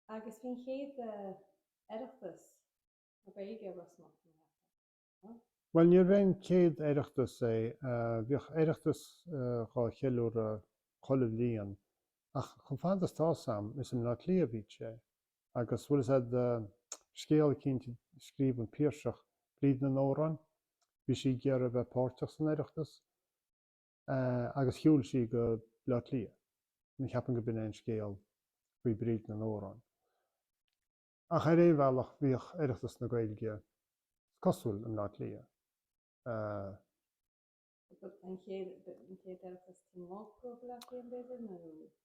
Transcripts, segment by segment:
Agus faoin chéad Oireachtas na Gaeilge i Ros Muc, ní fhaca, nó. Bhuel, níorbh é an chéad Oireachtas é, bhíodh Oireachtas dhá cheiliúradh chuile bhliain, ach chomh fada is atá 'fhios a'm, is i mBleá Cliath a bhí sé. Agus, bhuel i dtaobh, scéal eicínt a scríobh an Piarsach, Bríd na nAmhrán, bhí sí ag iarraidh a bheith páirteach san Oireachtas, agus shiúil sí go Bleá Cliath. Cheapfainn go b'in é an scéal faoi Bríd na nAmhrán. Ach ar aon bhealach, bhíodh Oireachtas na Gaeilge, is cosúil, i mBleá Cliath.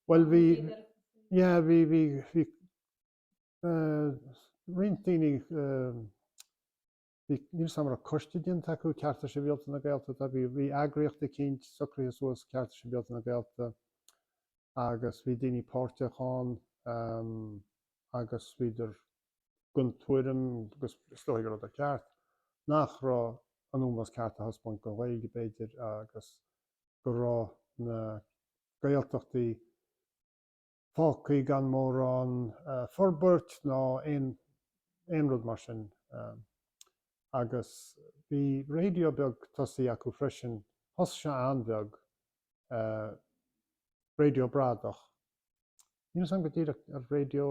Bhuel, bhí, yeah, bhí, bhí, bhí roinnt daoine, eh, Bhí, níl 'fhios a'm an raibh coiste déanta acu, Cearta Sibhialta na Gaeltachta, bhí, bhí eagraíocht eicínt socraithe suas, Cearta Sibhialta na Gaeltachta, agus bhí daoine páirteach ann agus bhíodar den tuairim, agus is dóigh go rabhadar ceart, nach raibh an ómós ceart á thaispeáint don Ghaeilge, b'fhéidir, agus go raibh na Gaeltachtaí, fágthaí gan mórán forbairt ná aon rud mar sin agus bhí raidió beag tosaithe acu freisin, thosaigh sé an-bheag, raidió bradach, níl 'fhios a'm go díreach ar Raidió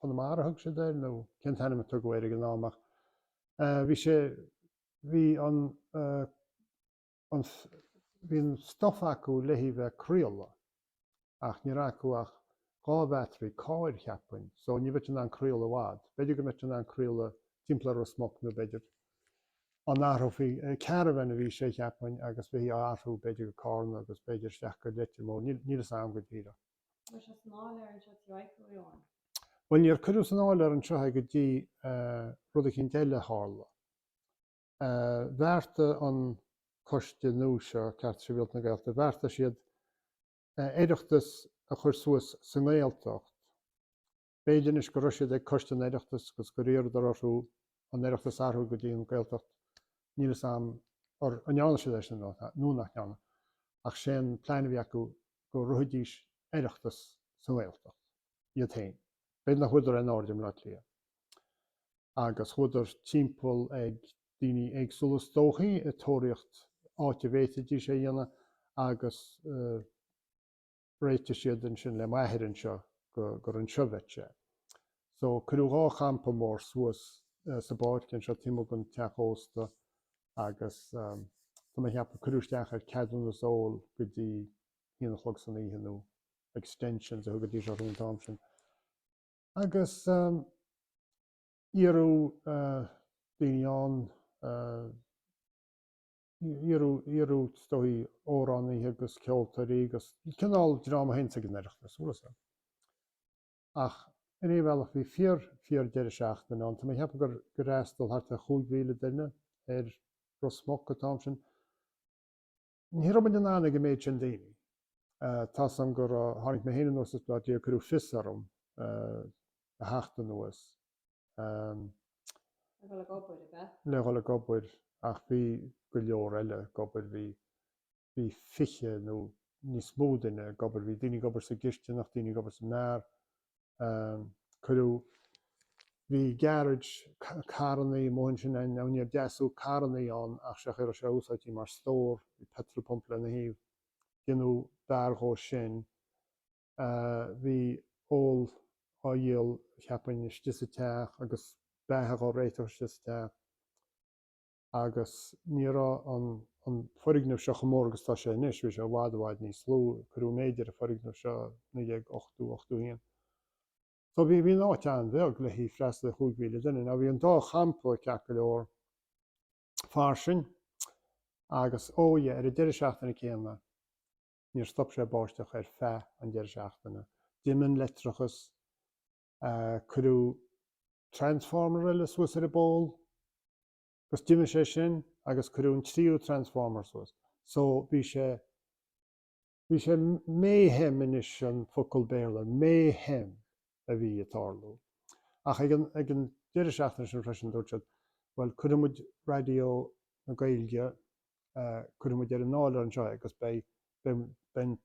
Chonamara a thug siad air nó cén t-ainm a tugadh air ag an am ach bhí sé, bhí an. an bhí an stuif acu le bheith ag craoladh ach ní raibh acu ach dhá bhattery cáir cheapfainn so ní bheifí in ann craoladh i bhfad. B'fhéidir go mbeifí in ann craoladh timpeall ar Ros Muc nó b'fhéidir an athrófaí caravan a bhí sé cheapfainn agus bheifí á athrú b'fhéidir go Cárna agus b'fhéidir isteach go Leitir Móir níl níl fhios a'am go díreach. Mar bhí sé san áiléar anseo tí Mhichael Eoghain. Bhuel níor cuireadh san áiléar anseo é go dtí rud eicínt eile a tharla. bheartaigh an coiste nua seo, Cearta Sibhialta na Gaeltachta, bheartaigh siad oireachtas a chur suas sa nGaeltacht. B'fhéidir anois go raibh siad ag Coiste an Oireachtais agus gur iarradar orthu an oireachtas a athrú go dtí an Gaeltacht, níl fhios a'm an ndearna siad é sin nó nach ndearna, ach sé an plean a bhí acu go rithfidís oireachtas sa nGaeltacht iad féin. B'fhéidir nach bhfuaireadar aon aird i mBleá Cliath. agus chuadar timpeall ag daoine éagsúla is dóichí ag tóraíocht áit a bhféadfaidís é a dhéanamh agus réitigh siad ansin le m'athair anseo gur anseo a bheadh sé. So cuireadh dhá champa mór suas sa bpáirc anseo taobh amuigh den teach ósta agus tá mé a cheapadh cuireadh isteach ar ceadúnas óil go dtí haon a chlog san oíche nó extensions a thugaidís orthu an t-am sin. Agus iarradh daoine ann, iarradh is dóigh amhránaithe agus ceoltóirí agus cineál dream a théanns ag an Oireachtas, an bhfuil a fhios agat. Ach ar aon bhealach bhí fíor, fíor deireadh seachtaine ann. Tá mé ag ceapadh gur fhreastal thart ar chúig mhíle duine ar Ros Muc an t-am sin. Ní raibh muid in ann ag an méid sin daoine. Tá a fhios agam gur tháinig mé féin anuas as Bleá Cliath cuireadh fios orm a theacht anuas le dhul ag obair ach bhí go leor eile ag obair, bhí bhí fiche nó níos mó duine ag obair, bhí daoine ag obair sa gcistineach, daoine ag obair sa mbeár. cuireadh, bhí garage, carrannaí amuigh ansin, now níor deasadh carrannaí ann ach sé an chaoi a raibh sé úsáidte mar stór, bhí petrol pump lena thaobh, deineadh beár dhó sin, bhí ól á dhíol cheapfainn istigh sa teach agus beatha á réiteach istigh sa teach. agus ní raibh an foirgneamh seo chomh mór agus atá sé anois, bhí sé i bhfad i bhfad níos lú, cuireadh méid ar an foirgneamh seo i 1980, 81. So bhí an áit an-bheag le haghaidh freastal ar chúig mhíle duine. Now bhí an dá champa ceart go leor fairsing agus oh yeah, ar an deireadh seachtaine céanna níor stop sé báisteach ar feadh an deireadh seachtaine. D'imigh an leictreachas. Cuireadh Transformer eile suas ar an bpól agus d'imigh sé sin agus cuireadh an tríú Transformer suas. So, bhí sé, bhí sé mayhem anois an focal Béarla, mayhem a bhí ag tarlú. Ach ag an, ag an deireadh seachtaine sin freisin dúirt siad, bhuel, cuirfidh muid Raidió na Gaeilge, cuirfidh muid ar an áiléar anseo é agus beidh, beidh, beidh an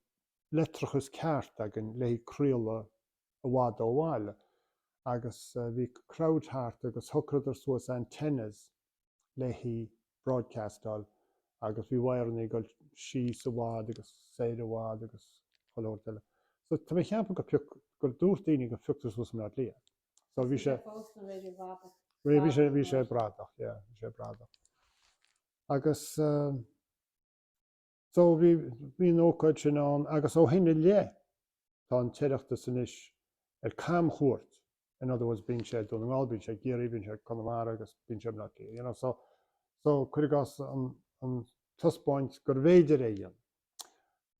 leictreachas ceart againn le haghaidh craoladh i bhfad ó bhaile agus bhí crowd thart agus shocradar suas antennas le haghaidh broadcastáil agus bhí wireannaí ag dul síos i bhfad agus soir i bhfad agus chuile shórt eile. So tá mé ag ceapadh go pioc gur dúirt daoine gur phiocadar suas i mBleá Cliath é. So bhí sé fós ina raidió bradach. Bhí bhí sé bhí sé bradach yeah bhí sé bradach agus eh. So bhí, bhí an ócáid sin ann agus ó shin i leith tá an tOireachtas anois ar camchuairt, in other words bíonn sé i nDún na nGall, bíonn sé i gCiarraí, bíonn sé i gConamara agus bíonn sé i mBleá Cliath so, so cuir i gcás an, an taispeáint gurbh fhéidir é dhéanamh.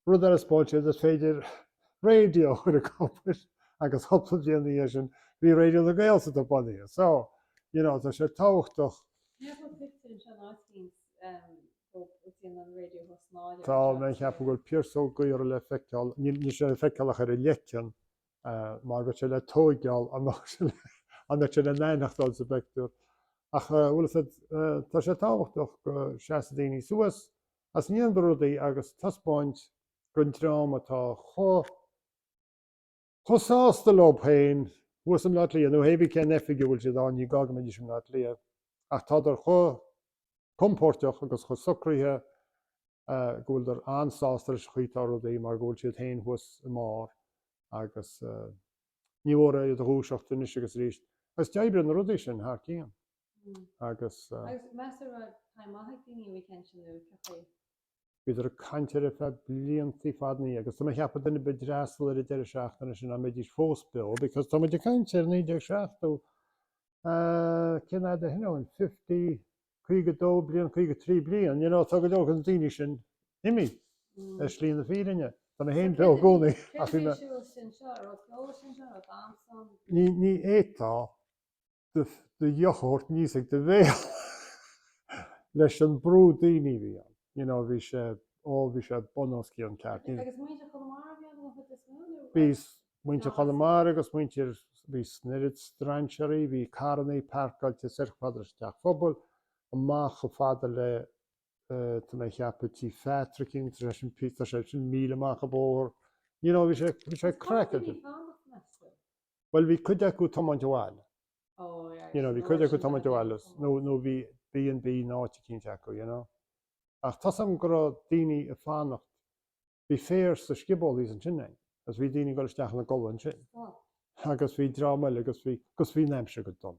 Rud eile a spáin muid is féidir raidió chur i gcomhair agus cúpla bliain ina dhiaidh sin bhí Raidió na Gaeltachta bunaithe. So, you know tá sé tábhachtach. Níor thuig tú an seanáit bhíonn Tá mé ag ceapadh go bhfuil Piaras Ó Gaora le feiceáil, níl sé le feiceáil ach ar a leiceann mar go bhfuil sé le tóigeáil, dá mbeadh sé dá mbeadh sé le n-aithneachtáil sa bpeictiúr? Ach bhuel, tá sé tábhachtach go seasfaidh daoine suas is go ndéanfaidh rudaí agus taispeáint don dream atá chomh. chomh sásta leo féin thuas i mBleá Cliath, nó hé bith cén oifig a bhfuil siad ann, ní gá go mbeidís i mBleá Cliath, ach tádar chomh compóirteach agus chomh socraithe go bhfuildar an-sásta leis an chaoi atá rudaí mar go bhfuil siad féin thuas i mbarr agus níor mhór iad a dhúiseacht anois agus arís. Agus d'oibrigh na rudaí sin thar cionn. Agus. Agus meas tú an raibh time maith ag daoine a bhí céann sin luaite faoi. Bhíodar ag caint air ar feadh blianta fada ina dhiaidh agus tá mé ag ceapadh duine ar bith a d'fhreastal ar an deireadh seachtaine sin, dá mbeidís fós beo because tá muid ag caint ar 1970, ahh, cén fhad ó shin ó shin, fifty, caoga dó bliain, caoga trí bliain, you know, tá go leor de na daoine sin imithe ar shlí na fírinne. Tá mé féin beo i gcónaí ach bhí mé. Ní fhéadfá. do dheoch a thabhairt aníos ag do bhéal leis an brú daoine a bhí ann. You know, bhí sé, ó, bhí sé bunoscionn ceart. Ní- Agus muintir Chonamara a bhí ann an chuid is mó, nó? Bhí s- muintir Nó- Chonamara agus muintir, bhí s- an oiread strainséaraí, bhí carrannaí pairceáilte soir chomh fada leis an teach phobail, amach chomh fada le, eh, tá mé a cheapadh, Tí Phatrick, agus tá sé sin pi- tá sé sin míle amach an bóthar. You know, bhí sé, bhí sé craiceáilte. Agus cá raibh siad ag fanacht, meas tú? Bhuel, bhí cuid acu tiomáint abhaile. You know, bhí cuid acu tiomáint abhaile, nó, nó bhí B and B in áit eicínt acu, you know. Ach tá's a'm go raibh daoine a' fanacht, bhí féar sa scioból thíos ansin againn, agus bhí daoine a' gul isteach ina gcodladh ansin. Agus bhí dream eile, 'gus bhí, 'gus bhí an aimsir go dona.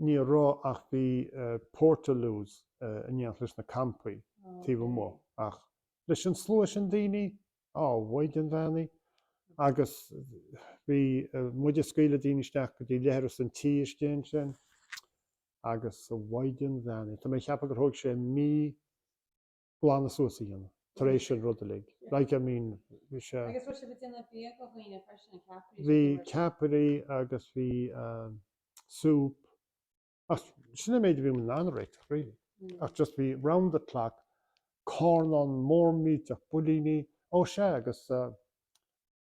ní raibh ach bhí portaloos in éineacht leis na campaí taobh amuigh ach leis an slua sin daoine, a Mhaighdean Bheannaithe agus bhí muid ag scaoileadh daoine isteach go dtí leithreas an tí istigh ansin agus a Mhaighdean Bheannaithe. Tá mé ag ceapadh gur thóg sé mí. glanadh suas a dhéanamh tar éis an rud uilig, like, I mean, bhí sé. Agus bhfuil sibh ag déanamh bia do dhaoine freisin, na ceapairí, Bhí ceapairí agus bhí soup ach sin an méid a bhí muid in ann a réiteach really ach just bhí round the clock carnán mór millteach builíní, ó sea agus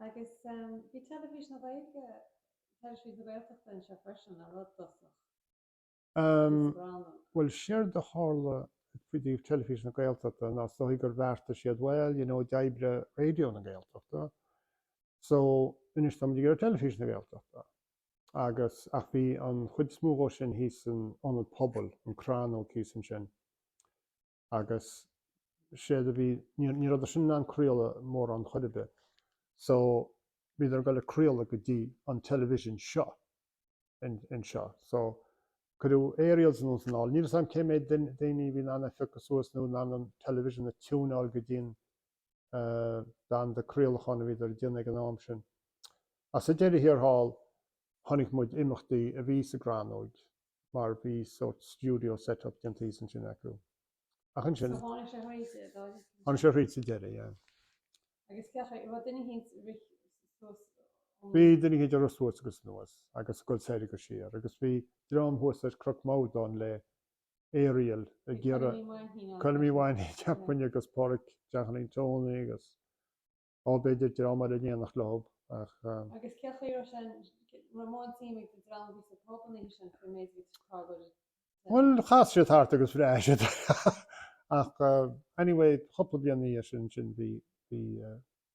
Agus bhí Teilifís na Gaeilge, Teilifís na Gaeltachta anseo freisin, le rud dtosach níos gránna. Bhuel, séard a tharla faoi dtaobh Teilifís na Gaeltachta ná is dóichí gur bheartaigh siad, bhuel, you know, d'oibrigh Raidió na Gaeltachta, so anois táimid ag iarraidh Teilifís na Gaeltachta. Agus, ach bhí an chuid is mó dhó sin thíos in Ionad Pobail, an Chrannóg thíos ansin. agus séard a bhí, ní rabhadar sin in ann craoladh mórán chor ar bith so bhíodar ag dul ag craoladh go dtí an television seo anseo so cuireadh aerials anonn 's anall. Níl 'fhios a'm cé méid daoine a bhí in ann é phiocadh suas nó in ann an television a tiúnáil go dtí'n banda craolacháin a bhíodar a dhéanamh ag an am sin. Ach sa deireadh thiar thall, chonaic muid imeachtaí a bhí sa gCrannóig. mar bhí sórt studio set up déanta thíos ansin acu. Ach ansin. So tháinig sé thríd sa deireadh. Tháinig sé thríd sa deireadh, yeah. Agus cén chaoi, bhí duine eicínt ag rith suas. Bhí duine eicínt ag rith suas agus anuas agus ag dul soir agus siar agus bhí dream thuas ar Chnoc Mordáin le aerial ag iarraidh. Colm Uí Mhainnín, cheapfainn, agus Pádraig Jeaicín Tone agus. Ó, b'fhéidir dream eile in éineacht leo ach. Agus cé chaoi raibh sé raibh mórán suime ag an dream a bhí sa pub an oíche sin faoin méid a bhí sa chrag uirthi sa tseilbh? Bhuel, chas siad thart agus bhreathnaigh siad ach anyway chúpla bliain ina dhiaidh sin sin bhí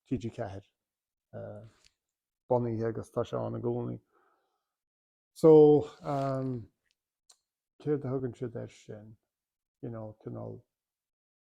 TG4 bunaithe agus tá sé ann i gcónaí. So céard a thugann siad air sin? You know, cineál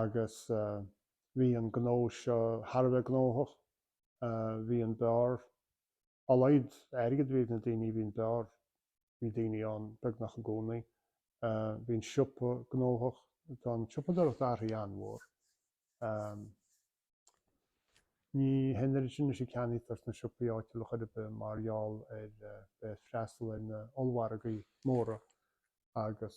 agus bhí an gnó seo thar a bheith gnóthach. Bhí an beár, dá laghad airgead a bhí ag na daoine bhí an beár, bhí daoine ann beagnach i gcónaí. Bhí an siopa gnóthach, tá an tsiopadóireacht athraithe an-mhór. Ní hé an oiread sin anois a ceannaítear sna siopaí áitiúla chor ar bith mar gheall ar bheith ag freastal ar na ollmhargaí móra agus.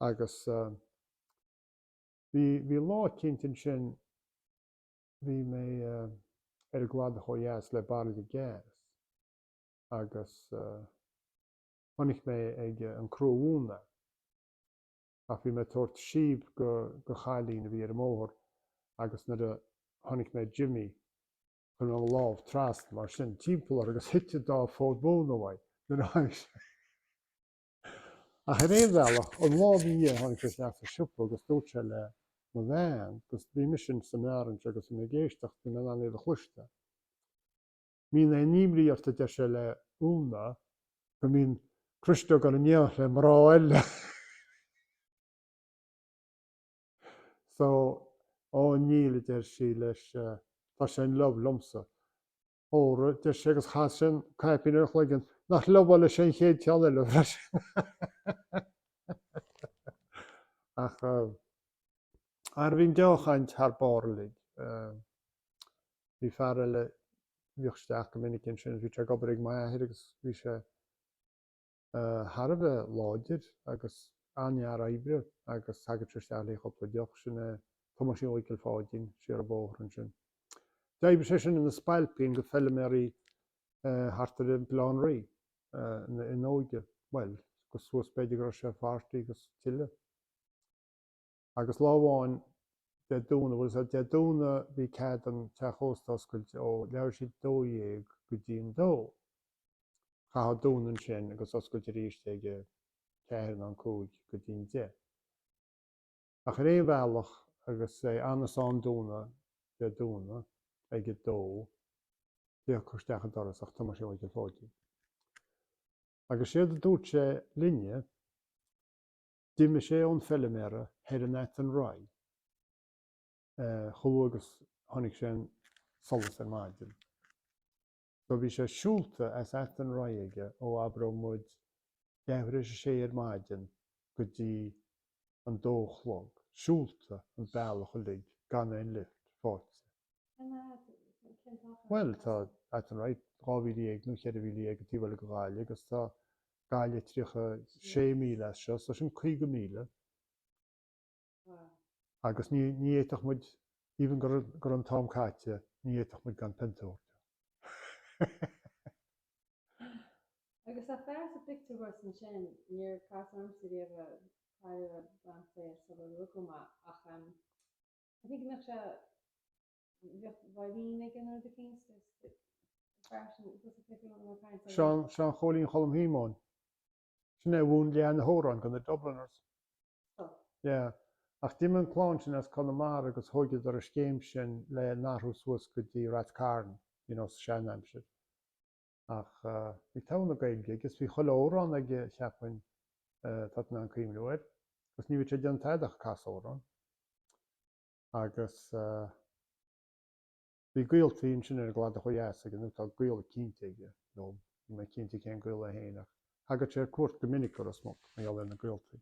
Agus bhí, bhí lá eicínt ansin, bhí mé ar an gcladach ó dheas le bairille gas agus chonaic mé ag an cró mhóna ach bhí mé ag tabhairt síob go, go chailín a bhí ar an mbóthar agus nuair a chonaic mé Jimmy, chuir mé mo lámh trasna mar sin timpeall uirthi agus thit an dá fhód móna uaidh nuair a tháinig sé. Ach ar aon bhealach, aon lá amháin tháinig sé isteach sa siopa agus dúirt sé le mo bhean agus bhí mise sa mbeár anseo agus bhí mé ag éisteacht, bhí mé in ann é a chloisteáil. Mbíonn aon imní ort, a deir sé le Úna, go mbíonn Criostóir ag goil in éineacht le mná eile. So, Ó níl, a deir sí leis, tá sé in love liomsa. Óra, deir sé agus chas sé an caipín ar a chloigeann. Nach in love leis an chéad cheann eile freisin! Ach ara bhí an dea-chaint thar barr uilig. Bhí fear eile, bhíodh isteach go minic ansin, bhí sé ag obair ag m'athair agus bhí sé thar a bheith láidir agus an-fhear oibre agus thagadh sé isteach le cúpla deoch, sin é Tomáisín Mhichael Pháidín siar an bóthar ansin. D'oibrigh sé sin ina spailpín ag feiliméaraí thart ar Bhaile Átha an Rí ina óige, bhuel, go suas b'fhéidir go raibh sé forty agus tuilleadh. Agus lá amháin Dé Domhnaigh, bhuel, Dé Domhnaigh, bhí cead don teach ósta oscailt ó leathuair tar éis a dó dhéag go dtí an dó. Chaithfeá dúnadh ansin agus oscailt arís ag a ceathair nó an cúig go dtí an deich. Ach ar aon bhealach agus é anois am dúnadh, Dé Domhnaigh, ag a dó, thiocfadh isteach an doras ach Tomáisín Mhichael Pháidín. Agus séard a dúirt sé linne, D'imigh sé ón feiliméara thoir in Athenry chomh luath agus tháinig sé an solas ar maidin. So bhí sé siúlta as Athenry aige ó abródh muid leathuair tar éis a sé ar maidin go dtí an dó a chlog, siúlta an bealach uilig gan aon lift faighte. Cén fhad, nó cén t-achar, atá. Bhuel, tá Athenry dhá mhíle dhéag nó cheithre mhíle dhéag an taobh eile de Ghaillimh agus tá Gaillimh tríocha sé míle as seo, so sin caoga míle agus ní fhéadfadh muid, even go raibh an t-am caite, ní fhéadfadh muid gan pionta a thabhairt dó. Agus an fear sa pictiúr thuas ansin, níor casadh ormsa riamh é, cailleadh b'fhéidir sular rugadh mé ach I think go mbeadh sé, Seán, Seán Chóilín Cholm Shíomóin. Sin é a mhúin leath na hamhráin do na Dubliners. Yeah. Ach d'imigh an clann sin as Conamara agus thóigeadar an scéim sin le n-athrú suas go dtí Rath Cairn, you know, sa sean aimsir. Ach eh, i dtaobh na Gaeilge, I guess bhí chuile amhrán aige cheapfainn, eh, tá tú in ann cuimhneamh air. Agus ní bhíodh sé ag déanamh tada ach casadh amhrán. agus bhí gaoltaí ansin ar an gcladach ó dheas aige, nó tá gaol eicínt aige, nó níl mé cinnte cén gaol é féin, ach thagadh sé ar cuairt go minic go Ros Muc mar gheall ar na gaoltaí.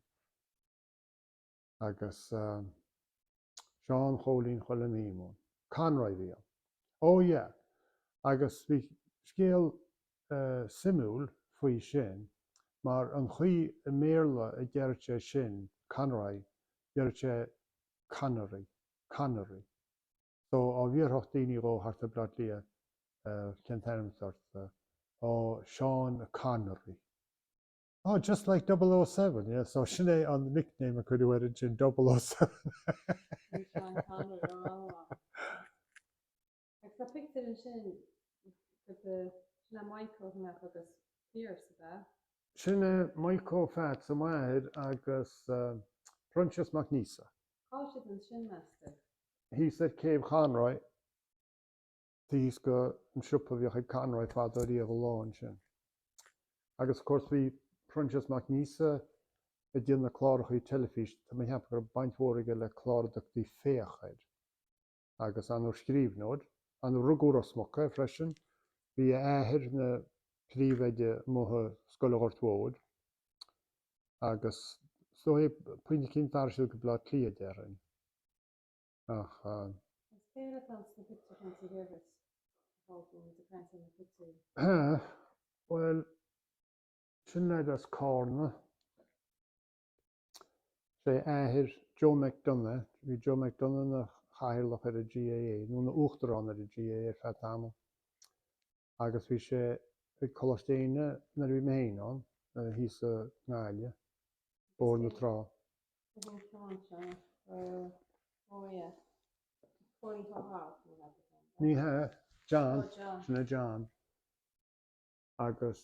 Agus Seán Chóilín Choilm Shíomóin. Conroy a bhí ann. Ó yeah, agus bhí scéal suimiúil faoi sin, mar an chaoi i mBéarla a deir sé sin, Conroy, deir sé Connery, Connery. So, dá bhfiafródh daoine dhó thart i mBleá Cliath cén t-ainm atá ort, ó Sean Connery. Oh, just like double O seven, yeah, so sin é an nickname a cuireadh air ansin, double O seven. Bhí Sean Connery ró-mhaith. Agus tá pictiúr ansin agat de, sin é Maidhcó a chonac agus Pearse, ab ea? Sin é Maidhcó Pheats, a máthair, agus Proinsias Mac Neasa. Cá bhfuil siad ansin, meas tú? Thíos ar Chéibh Chonroy, taobh thíos dhon siopa a bhíodh ag Conroy fadó riamh ar ball ansin. Agus of course bhí Proinsias Mac Neasa ag déanamh na clárachaí teilifíse, tá mé ag ceapadh go raibh baint mhór aige le clár a dtugtaí Féach air. agus an-scríbhneoir, an-, rugadh i Ros Muc é freisin, bhí a athair ina phríomhoide amuigh i Scoil an Ghort Mhóir agus so ag pointe eicínt d'athraigh siad go Blá Cliath déarfainn ach. Is Béarla atá ins na pictiúir chan san Gaelbheirt a fágadh muid a caint ar na pictiúir. Hea bhuel sin leaid as Cárna. Sin é athair Joe McDonagh, bhí Joe McDonagh ina chathaoirleach ar an GAA, nó ina uachtarán ar an GAA ar feadh tamaill, agus bhí sé ag Coláiste Éinne nuair a bhí mé féin ann, thíos sa nGaillimh, Bóthar na Trá. Ní hea, John, sin é John, agus.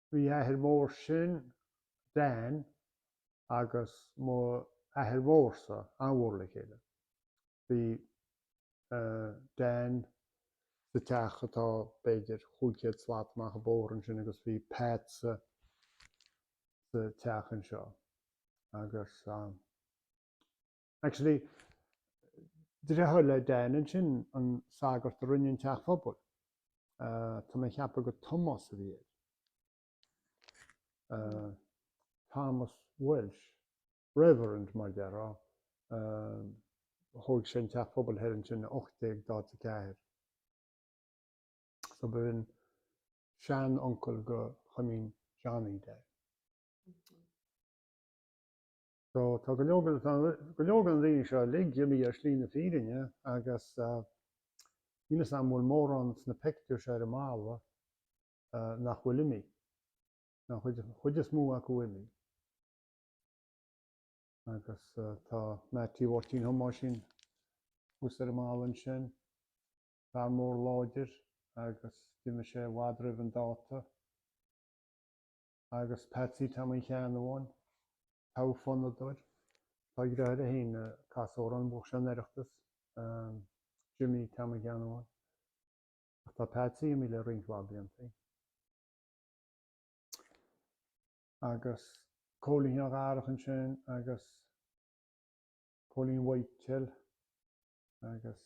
Bhí athair mór sin, Dan, agus mo athair mhór-sa an-mhór le chéile. Bhí Dan sa teach atá b'fhéidir chúig chéad slat amach an bóthar ansin agus bhí Pat sa teach anseo agus Actually, dreatháir le Dan sin an sagart a rinne an teach pobail. Tá mé ag ceapadh gur Tomás a bhí air. Thomas Welsh, Reverend mar a déarfá. Thóig sé an teach pobail thoir ansin i 1844. So b'in seanuncail do Choilmín Johnny de. So, tá go leor, tá go leor den dream seo uilig imithe ar shlí na fírinne agus níl 'fhios a'm an bhfuil mórán sna pictiúir seo ar an mballa nach bhfuil imithe. Tá an chuid, chuid is mó acu imithe. Agus tá Meaití Mháirtín Thomáisín thuas ar an mballa ansin, fear mór láidir agus d'imigh sé i bhfad roimh an dáta. agus Patsy Tam Uí Cheannabháin, togha fonnadóir, tá a dheartháir féin ag casadh amhrán, bhuaigh san Oireachtas, Jimmy Tam Uí Cheannabháin, ach tá Patsy imithe le roinnt mhaith blianta againn. Agus Cóilín Sheáin Dharach ansin agus Cóilín Mhaidhcil agus.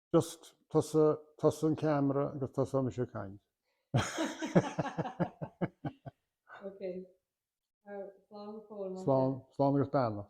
just tusa, tusa an ceamara agus tusa is mise ag caint. Slán agus beannacht.